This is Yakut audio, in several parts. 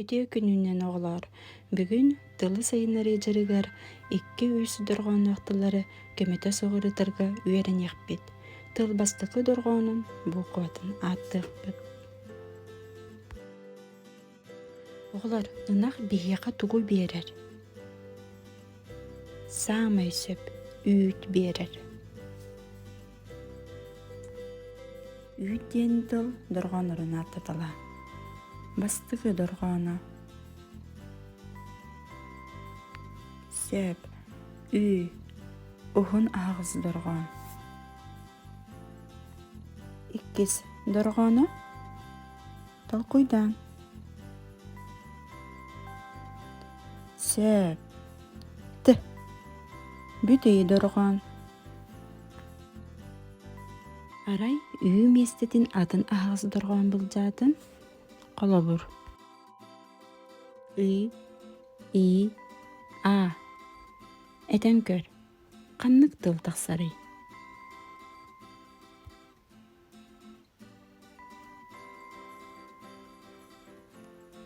Үтүө күнүнэн, оҕолоор! Бүгүн Тылы сайыннарыы дьарыгар икки-үс дорҕоонноох тыллары көмөтө суҕарытарга үөрэниэхпит. Тыл бастакы дорҕоонун буукубатын ааттыахпыт. Оҕолор, ынах биһиэхэ тугу биэрэр? Саамай сөп, үүт биэрэр. Үүт диэн тыл дорҕооннорун ааттатала. Бастакы дорҕооно Сөп. Ү. Уһун аһаҕас дорҕоон. Иккис дорҕооно толкуйдаан. Сөп. Т. Бүтэй дорҕоон. Арай үһү миэстэтин атын аһаҕас дорҕоон былдьаатын холобур ы и а этэн көр ханнык тыл тахсарый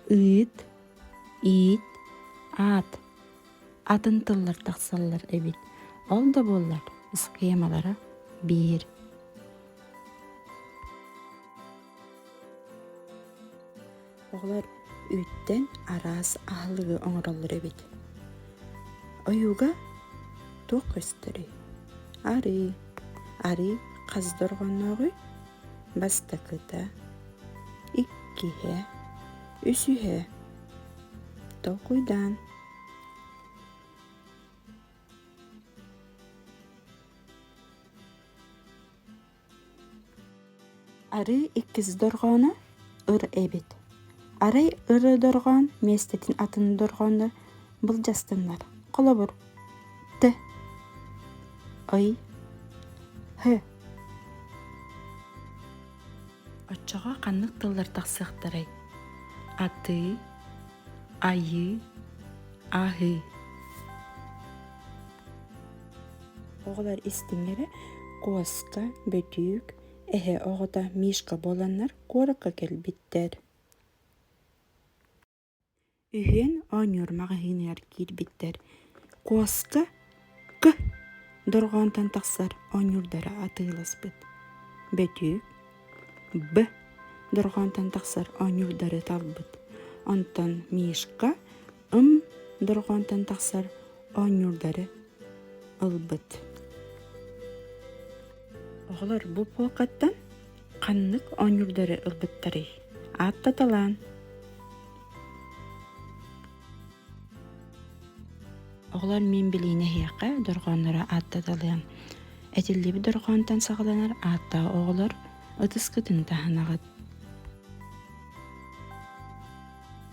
ыыт иит аат атын тыллар тахсаллар эбит ол да буоллар схемалара биир Оҕолор үүттэн араас аһылыгы оҥороллор эбит. Ойууга туох көстөрүй? Арыы. Арыы хас дорҕооннооҕуй? Бастакыта, иккиһэ, үсүһэ. Толкуйдаан. Арыы иккис дорҕооно ыр эбит. Арай ыры дорҕоон миэстэтин атын дорҕооно былдьастыннар. Холобур, т, ый, һ. Оччоҕо ханнык тыллар тахсыахтарай? Атыы, айыы, аһыы. Оҕолор истиҥэрэ Куоска, Бөтүүк, эһэ оҕото Мишка буоланнар куоракка кэлбиттэр үһүөн оонньуур маҕаһыыныгар киирбиттэр. Куоска К дорҕоонтон тахсар оонньуурдара атыыласпыт. Бөтүүк Б дорҕоонтон тахсар оонньуурдары талбыт. Онтон Мишка ым дорҕоонтон тахсар оонньуурдары ылбыт. Оҕолор бу пуокаттан ханнык оонньуурдары ылбыттарый? Ааттаталаан. Оҕолор мин билиини эһиэхэ дорҕоонноро ааттаталыам. Этиллибит дорҕоонтон саҕаланар ааттаа оҕолор ытыскытын таһынаҕыт.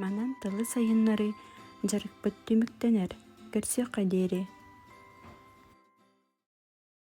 Манан тылы сайыннарыы дьарыкпыт түмүктэнэр, көрсүөххэ диэри